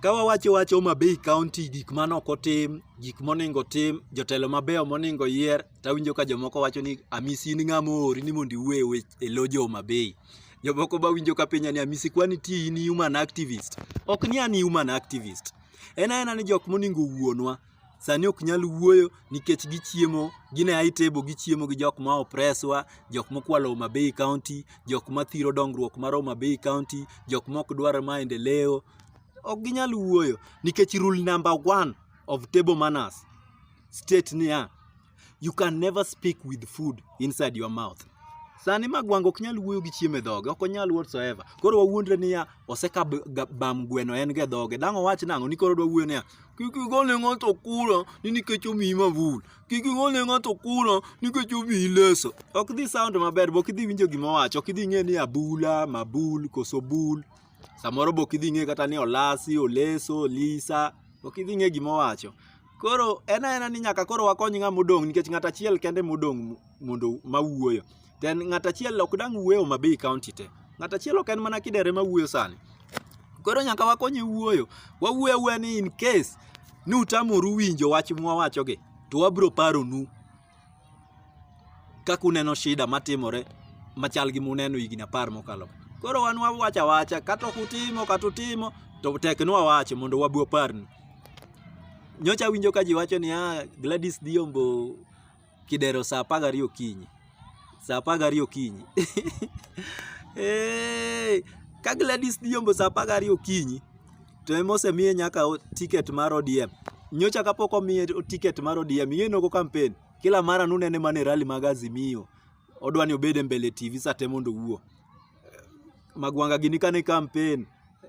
Ka wawacho wach Homa Bay kaonti gik mane ok otim, gik monego otim, jotelo mabeyo monego oyier, to awinjo ka jomoko wacho ni Amisi in ng'ama oori ni mondo iwuo e loo jo Homa Bay. Jomoko be awinjo ka penja ni Amisi kwani iti in human activist? Ok ni an human activist. En aena ni jok monego owuonwa. sani ok nyal wuoyo nikech gichiemo gine high table gichiemo gi jok ma opreswa jok mokwalo Homa Bay County jok ma thiro dongruok mar Homa Bay County jok mok dwar maendeleo ok ginyal wuoyo nikech rule number one of table manners state niya You can never speak with food inside your mouth. Sani Magwanga ok nyal wuoyo gi chiemo e dhoge, ok onyal whatsoever. Koro wawuondre niya, oseka bam gweno en ge dhoge. Dang' owach nang'o ni koro odwa wuoyo niya, kik igol ne ng'ato kura ni nikech omiyi mavul. Kik igol ne ng'ato kura nikech omiyi leso. Ok dhi sound maber, be ok idhi winjo gima owacho, ok idhi ng'e ni abula, mabul, koso bul. Samoro be ok idhi ng'e kata ni olasi, oleso, olisa. Ok idhi ng'e gima owacho. Koro en aena ni nyaka koro wakony ng'ama odong' nikech ng'at achiel kende modong' mondo ma wuoyo. To en ng'at achiel ok dang' wuo e Homa Bay kaonti te. Ng'at achiel ok en mana Kidero ema wuoyo sani. Koro nyaka wakonye wuoyo. Wawuo awuoya ni in case ni utamoru winjo wach mwawachogi to wabiro paronu. kaka uneno shida matimore machal gi muneno higni apar mokalo koro wan wawacho awacha kata ok utimo kata utimo to tek ni wawache mondo wabi waparnu nyocha awinjo ka ji wacho ni ah, Gladys Dhiombo kidero saa apar gariyo okinyi saa apar gariyo okinyi hey, ka Gladys Dhiombo saa apar gariyo okinyi To ema osemiye nyaka ticket mar ODM. Nyocha kapok omiye ticket mar ODM, yeye nogo campaign. Kila mara nunene mana e rally mag Azimio. Odwa ni obed e mbele TV saa te mondo owuo. Magwanga gini kane campaign,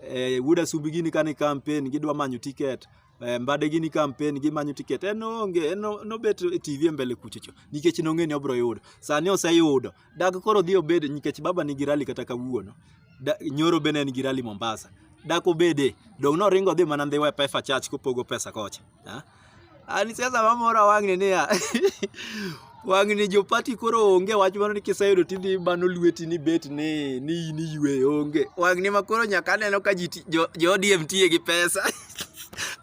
eh, Wuod Asubi gini kane campaign, gidwa manyo ticket. Eh, Mbade gini campaign, gimanyo ticket. En onge, en no- nobet e TV e mbele kuchocho. Nikech nong'e ni obro yudo. Sani oseyudo. Dak koro dhi obed nikech baba nigi rali kata kawuono. Nyoro bende en gi rali Mombasa. Dak obede, dong' noringo dhi mana ndhiwa e Pefa Church kopogo pesa kocha. An siasa mamora wang'ni niya, wang'ni jopati koro onge wach mano ni kiseyudo tidhi bano lweti ni bet ni ni in iywe onge. Wang'ni ma koro nyaka aneno ka ji jo ODM tiye gi pesa.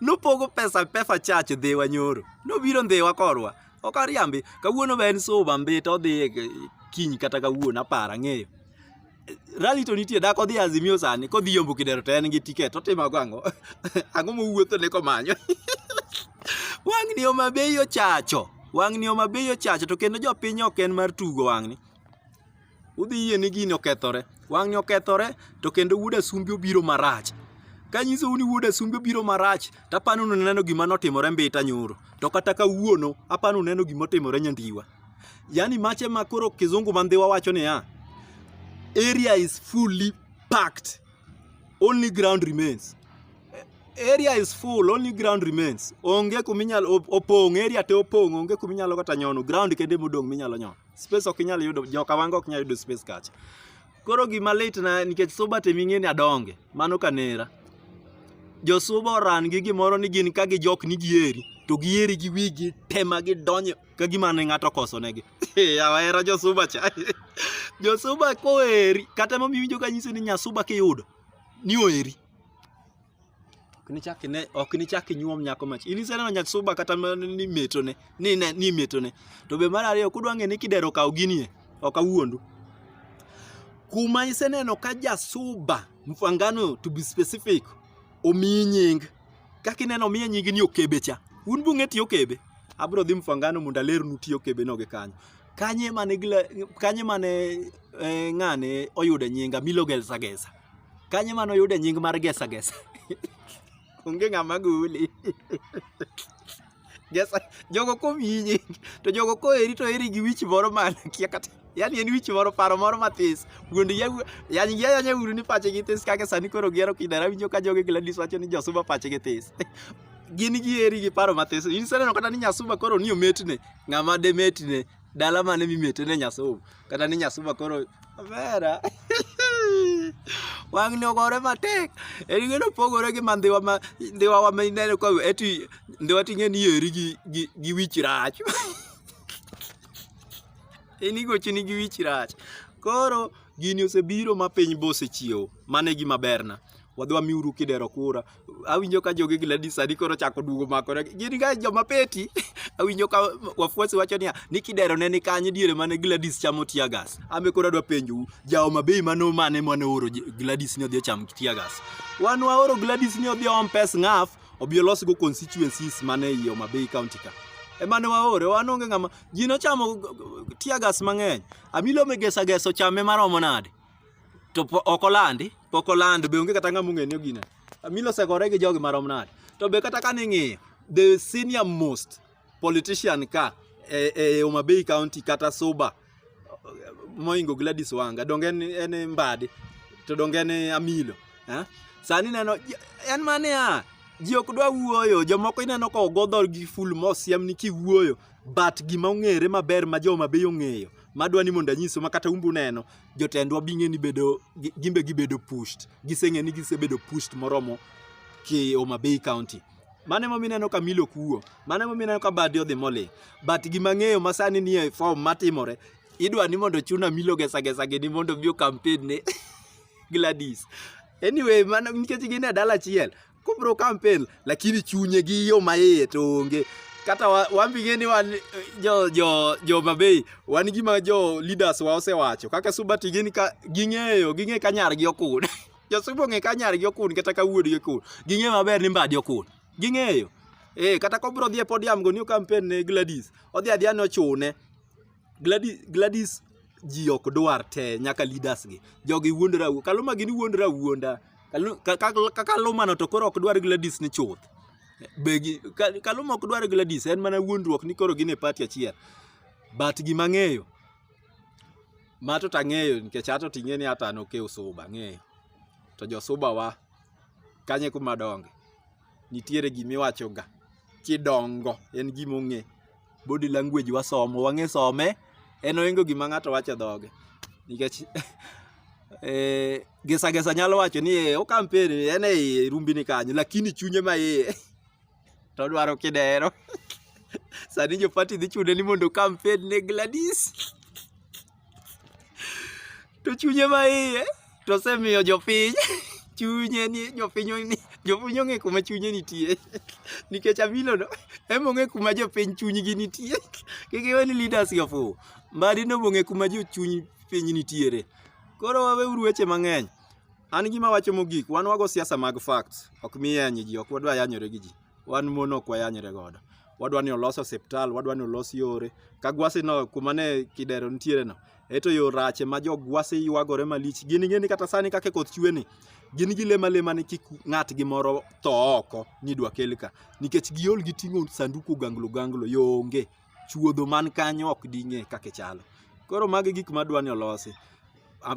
Nopogo pesa Pefa Church dhiwa nyoro. Nobiro ndhiwa korwa. ok ariambi kawuono be en suba mbita odhi e kiny kata kawuono apara ng'eyo rali to nitie dak odhi azimio sani kodhi yombo kidero to en gi tiket otimago ang'o ang'o mowuotho ne komanyo wang'ni oma bei ochacho wang'ni oma bei ochacho to kendo jopiny ok en mar tugo wang'ni Udhi yie ni gini okethore. Wang'ni okethore to kendo wuod asumbi obiro marach. Kanyisou ni wuod asumbi obiro marach, to apani uneno gima notimore Mbita nyoro. To kata kawuono, apani uneno gima otimore Nyandiwa. Yaani mache ma koro kizungu ma Ndhiwa wacho niya, area is fully packed, only ground remains. Area is full, only ground remains. Onge kuminyalo opong', area te opong', onge kuminyalo kata nyono, ground kende emodong' minyalo nyono. space ok inyal yudo joka wango ok nyal yudo space kacha koro gima lit na nikech suba te ming'eni adonge mano kanera josuba oran gi gimoro ni gin ka gijok ni gieri to gieri gi wigi tema gidonyo ka gima ne ng'ato kosonegi awahera josuba cha josuba koeri kata momiwinjo ka nyisi ni nyasuba kiyudo ni oeri ok nichak ine ok nichak inyuom nyako mach in iseneno nyat suba kata ma- ni metone ni ne ni metone to be mar ariyo kudwa ng'e ni kidero kaw ginie ok awuondu kuma iseneno ka jasuba mfangano to be specific omiyi nying kaka ineno omiye nying ni okebe cha un bung'e tiyo okebe abro dhi mfangano mondo alernu tiyo okebe no gi kanyo kanye mane gila- kanye mane eh, ng'ane oyude nyinga milogelsagesa Kanye mano yude nying mar gesa gesa? Onge ng'ama guli. Gesa, jogo kominyi, to jogo koheri to heri gi wich moro mana kia kata. Yani en wich moro paro moro mathis. Wuond ya yani ya yanya uru ni pache gi this kaka sani koro gero kidara winjo ka jogo Gladys wacho ni josuba pache gi this. Gin gi heri gi paro mathis. In sani kata ni nyasuba koro ni ometne, ng'ama de metne. Dala mane mimete ne Nyasuba kata ni Nyasuba koro omera. Wang' ni ogore matek. En gino pogore gi ma ndhiwa ma ndhiwa wa ma ineno ka eti ndhiwa ting'e ni eri gi gi, gi wich rach. en igochini gi wich rach. Koro gini osebiro ma piny bosechiewo. Mano e gima berna. Wadhi wamiuru kidero kura awinjo ka jogi Gladys sani koro chako duogo mako gin ga joma peti awinjo ka wafuasi wacho niya ni kidero ne ni kanye diere mane Gladys chamo tear gas ambe koro adwa penjou jawo mabei mano mane mane oro Gladys ni odhi ocham tear gas wan waoro Gladys ni odhi om pes ngaf obi olos go constituencies mane ei Homa Bay County ka emane waore wan onge ng'ama ji nochamo tear gas mang'eny amilo megesa gesa ochame maromo nade to ok olandi pok oland be onge kata ng'ama ong'e ni ogina Amilo osegore gi jogi marom nade to be kata kane ing'iyo the senior most politician ka e, e Homa Bay County kata Suba moingo Gladys Wanga donge en, en Mbadi to donge en Amilo eh? sani neno en mane ya ji ok dwa wuoyo jomoko ineno ka ogo dhor gi ful mosiem ni kiwuoyo but gima ong'ere maber ma joma be ong'eyo madwa ni mondo anyiso ma kata umbu neno jotendwa bing'e ni bedo gimbe gibedo pushed giseng'e ni gisebedo pushed moromo ki Homa Bay County mane momi neno ka milo kuo mane momi neno ka badi odhi moli but gima ng'eyo ma sani nie form matimore idwa ni mondo chuna milo gesa gesa gini mondo obi campaign ne Gladys anyway mano nikech gin e dala achiel kobro kampen lakini chunye gi yo maiye to onge kata wambing'e ni wan jo jo jo mabei wan gima jo leaders wa osewacho kaka suba tigin ka ging'eyo ging'e ka nyargi okun jo suba ong'e ka nyargi okun kata ka wuodgi okun ging'e maber ni mbadi okun ging'eyo eh kata kobro dhi e podium go new campaign ne Gladys odhi adhiya nochune Gladys Gladys ji ok dwar te nyaka leaders gi jogi wuondra kaluma gini wuondra wuonda Kaluma no to koro ok dwar Gladys ni chuth. Begi Kaluma ok dwar Gladys en mana wuondruok ni koro gin e party achiel. But gima ng'eyo ma to tang'eyo nikech ato ting'e ni ata nokew suba ng'eyo. To jo suba wa kanye kuma donge. nitiere gima iwachoga kidongo en gima ong'e body language wasomo wang'e some en oingo gima ng'ato wacho dhoge nikech eh, gesa gesa nyalo wacho ni eh, okampeni en e iye rumbini kanyo lakini chunye ma iye to dwaro kidero sani jo party dhi chune ni mondo kampen ne Gladys to chunye ma iye to osemiyo jopiny chunye ni jopiny ni jopiny ong'e kuma chunye nitie nikech Amilo no ema ong'e kuma jopiny chunygi nitie kik iwe ni leaders gi ofuwo Mbadi no ong'e kuma jochuny piny nitiere koro waweuru weche mang'eny an gima awacho mogik wan wago siasa mag facts ok miyanye ji ok wadwa yanyore gi ji wan mon ok wayanyre godo wadwa ni olos osiptal, wadwa ni olos yore. Ka gwasi no kuma ne kidero nitiere no, eto yo rache ma jo gwasi ywagore malich. Gin ing'e ni kata sani kaka koth chwe ni, gin gi lema lema ni kik ng'at gi moro tho oko ni dwa kel ka. Nikech giol gi ting'o sanduku ganglo ganglo, yo onge. Chuodho man kanyo ok ding'e kaka chalo. Koro magi gik madwa ni olosi.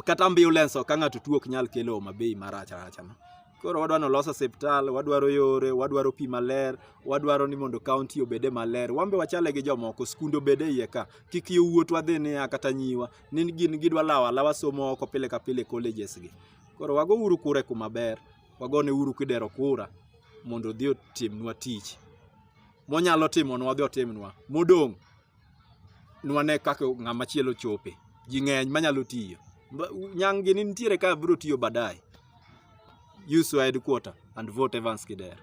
kata ambulance ok ng'ato tuo ok nyal kelo homa bay marach rach no koro wadwa nolos osiptal wadwaro yore wadwaro pi maler wadwaro ni mondo kaunti obede maler wambe wachale gi jomoko skunde obede iye ka kik yo wuot wadhi niya kata nyiwa ni gin gidwa lawo alawa somo oko pile ka pile colleges gi koro wago uru kure kuma ber wagone uru kidero kura mondo odhi otimnwa tich monyalo timonwa odhi otimnwa modong' nwane kaka ng'ama chielo chope ji ng'eny manyalo tiyo nyang' gini nitiere ka biro tiyo baadaye use your headquarter and vote Evans Kidero